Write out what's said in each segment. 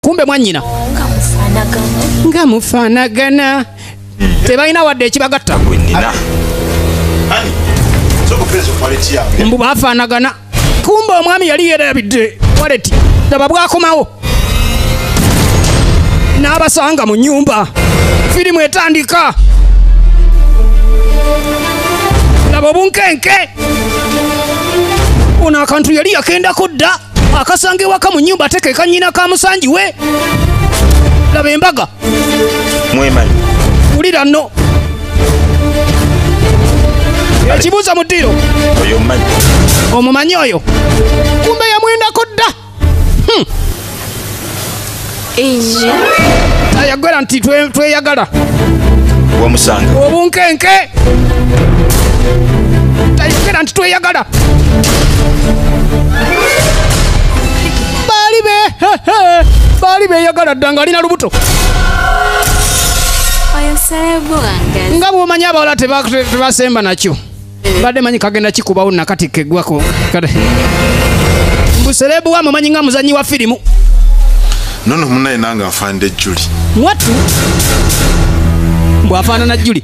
kumbe mwanyina nga mufanagana tebalina wadde ekibagatta mbu bafanagana kumbe omwami yali yerabidde waleti daba bwakomawo n'abasanga mu nyumba firimu etandika laba obunkenke ono akantu yali yakendako dda akasanga ewaka mu nyumba ate kekanyina ka musanji we laba embaga mwemanyi wulira no ekibuuza mu ddiiro omumanyi oyo kumbe yamwendako dda hmm. ayagala nti tweyagala wamusanga obunkenke tayogera nti tweyagala baali be baali beyagala dda nga alina lubuto nga bwomanya abawala tebasemba nakyo mbadde manyi kagenda kikubawo nakati kegwako kale mbuserebu wa mumanyi nga muzanyi wa firimu nono munaye nange afanide juli mwatu bwafaanana juli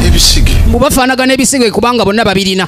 ebisige mbubafaanagana ebisige kubanga bonna babirina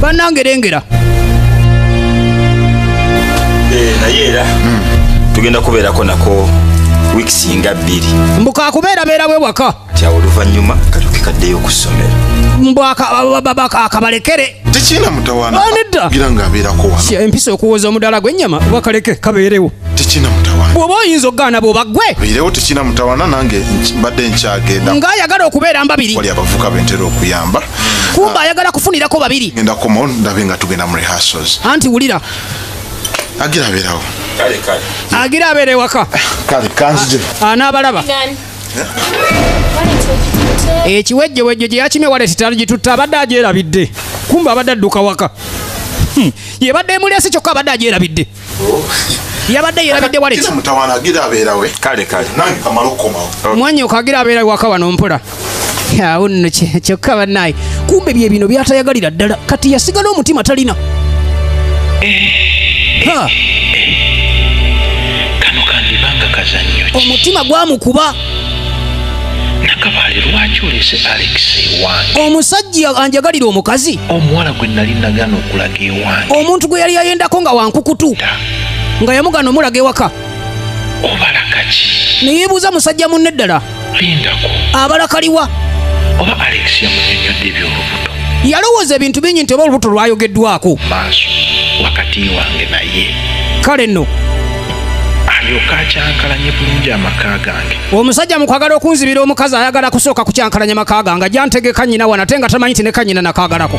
banange lengera eh, naye era hmm, tugenda kubeerako nako weeks nga bbiri mbuka kubeera beera we waka tya oluvannyuma katuke kaddeyo ku ssomero mbwakabalekere tekina mutawananeddagira nga abeerako wano empisa okuwoza omudala gw'ennyama wakaleke kabeerewo tekina mutawana bw'oba oyinza okugaana bw'oba gwe beerewo tekina mutawana nange mbadde nkyagenda ng'ayagala okubeera mbabiri wali abavuka bentera okuyamba kumbe ayagala kufunirako babiri ngenda komo ndabe nga tugenda mu rehearsals anti wulira agira abeerawo agira abeera ewaka kale kanzije anaabalaba ekiwejjewejjo gye yakimye waleti tagitutta abadde agyerabidde kumbe abadde adduka waka hmm. yebadde emulesi kyokka abadde agyerabidde yabadde yerabidde waleti mutawana agira abeerawe kale kale nange kamala okukomawo mwanya okagira abeera waka wano mpola awo nno kyokka bannaye kumbe bye bino byatayagalira ddala kati yasigala omutima talina kano kandibanga kazannyo omutima gwamukuba nakabaale lwaki oleese alex ewange omusajja anjagalira omukazi omuwala gwe nali nagana okulaga ewange omuntu gwe yali yayendako nga wankukutu nga yamugana omulaga ewaka obalakaki neyebuuza musajja munne ddala lindako abalakaliwa oba alex yamunyonyodde ebyolubuto yalowooza ebintu bingi nti oba olubuto lwayogeddwako maaso wakati wange naye kale nno alyoka akyankalanye bulungi amaka gange omusajja mukwagala okunzibira omukazi ayagala kusooka kukyankalanya maka gange jantegeka nyina wana ate nga tamanyi nti nekanyina nakagalako